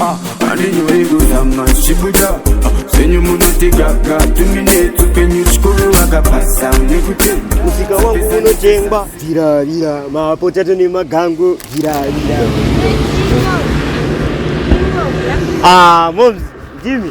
Ah, andinyoyi kuzama zvichibuda Ah, zvenyu munotigaga tuminetsu penyu chikuru vakabasa nekuti musika wangu unotengwa viravira mapotato nemagango viravira ah moms ndimi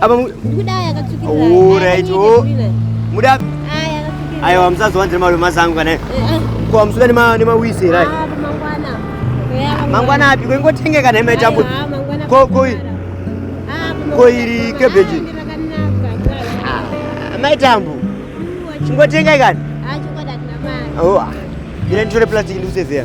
Apa mu Ndikuda aya akatsvukira. Oh, right. Oh. Muda Aya akatsvukira. ayo amsazowa ndiri malume mazangu kana. Eh, ah. Ko amsuka nema nema wise right. Ah, mangwana. Yeah, mangwana api ko ingotenge kana ima itambu. Ah, mangwana. Ko ko. Ah, ko iri cabbage. Ah, ah mai tambu. Chingotenga kana. Ah, chingoda tinamaa. Oh. Ile ah. nditore plastic ndikusezeya.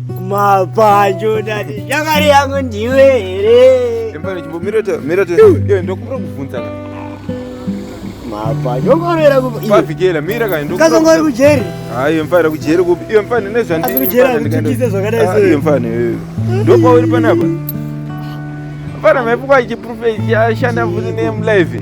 mapanjo dadi shamwari yangu ndiwe here ndokumbira kubvunza mapanjo ongorovera kupavhikela mira kaikazongori kujeri hayi mfana kujeri kupi iyo mfana nezvandasi kujeri akutukise zvakadai ah, seiyo mfana iyoyo ndopauri panapa mfana maipukwa chiprofeti ashanda futi nemlive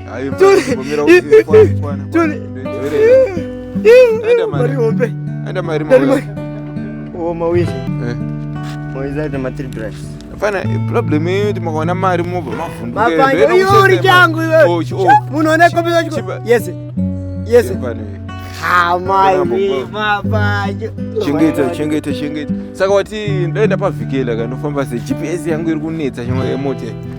problem yeyo ti makaona mari mobva mavhundukeori changu munoona kombeyese yese chengeta chengeta chengeta saka wati ndaenda pavhikela kanofamba se gps yangu iri kunetsa chemota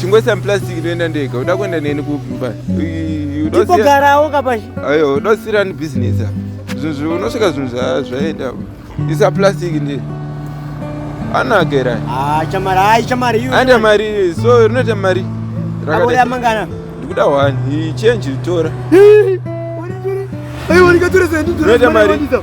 chingoisa muplastic ndoenda ndega uda kuenda neni kumba tipogarawo kapashi ayo uda kusira ni business zvinhu unosvika zvinhu zvaenda isa plastic ndi anagera ah, chamari ai chamari anda mari so rinoita mari rakada mangana ndikuda one change tora Hey, what are you going to do?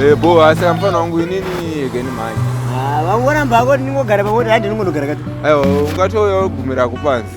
Eh, bo asi kamfana wangu inini again manje ah, vangu voramba hako ndingogara pamoti handi ndingonogara kati aiwa ungatouya wogumira kupanzi